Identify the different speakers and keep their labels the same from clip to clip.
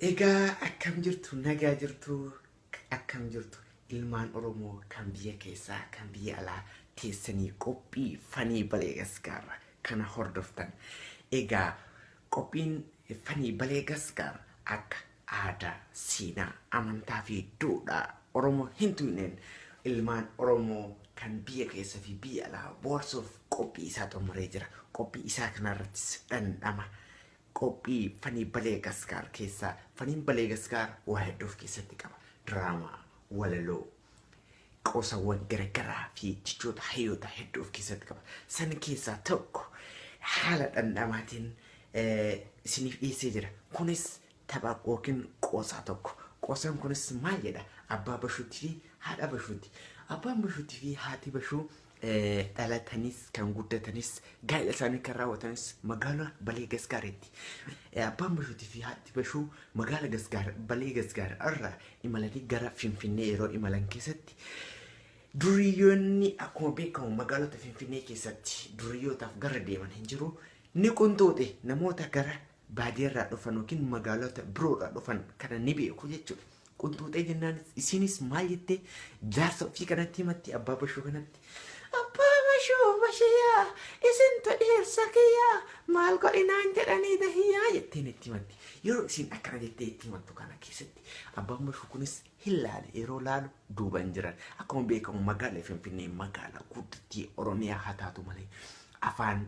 Speaker 1: Egaa akkam jirtu nagaa jirtu akkam jirtu ilmaan Oromoo kan biyya keessaa kan biyya alaa teessanii qophii fanii baleegaskaarra kana hordoftan. Egaa qophiin fanii baleegaskaar akka aadaa, seenaa, amantaa fi duudhaa Oromoo hin tuqneen ilmaan Oromoo kan biyya keessa fi biyya alaa boorsuuf qophii isaa xumuree jira. Qophii isaa kanarrattis dhandhama Qophii Fanii Balee Gaskaar keessaa Faniin Balee Gaskaar waa hedduu of keessatti qaba. Diraamaa, walaloo, qoosawwan garagaraa fi jechoota hayyoota hedduu of keessatti qaba. San keessaa tokko haala dhandhamaatiin isiniif dhiyeessee jira. Kunis tapha yookiin qoosaa tokko. Qoosaan kunis maal jedha? Abbaa Bashuutii fi haadha Bashuuti. Abbaan Bashuutii fi haati Bashuu dhalatanis kan guddatanis gaa'ela isaanii kan raawwatanis magaalaa Balee Gasgaareetti. Abbaan Bashuutii fi haati Bashuu magaala Gasgaar Balee Gasgaar irraa imalanii gara Finfinnee yeroo imalan keessatti duriyyoonni akkuma beekamu magaalota Finfinnee keessatti duriyyootaaf gara deeman hin jiru. Ni qunxuuxe namoota gara baadiyarraa dhufan yookiin magaalota biroorraa dhufan kana ni beeku jechuudha. Qunxuuxee jennaan isiinis maal jettee jaarsa ofii kanatti himatti abbaa bashuu kanatti. Abbaa bashuu bashiyaa isintu dhiirsa kiyyaa maal godhinaan jedhanii dahiyyaa jetteen itti himatti. Yeroo isiin akkana jettee itti himattu kana keessatti abbaan bashuu kunis hin laale yeroo laalu duuban jiran. Akkuma beekamu magaalaa Finfinnee magaalaa guddittii Oromiyaa haa taatu malee afaan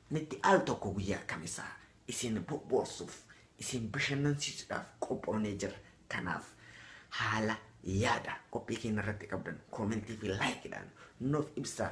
Speaker 1: Nutti al tokko guyyaa kamisaa isin boboorsuuf, isin bashannansiisuudhaaf qophoonee jirra. Kanaaf haala, yaada qophii keenya irratti qabdan comment fi like dhaan nuuf ibsaa.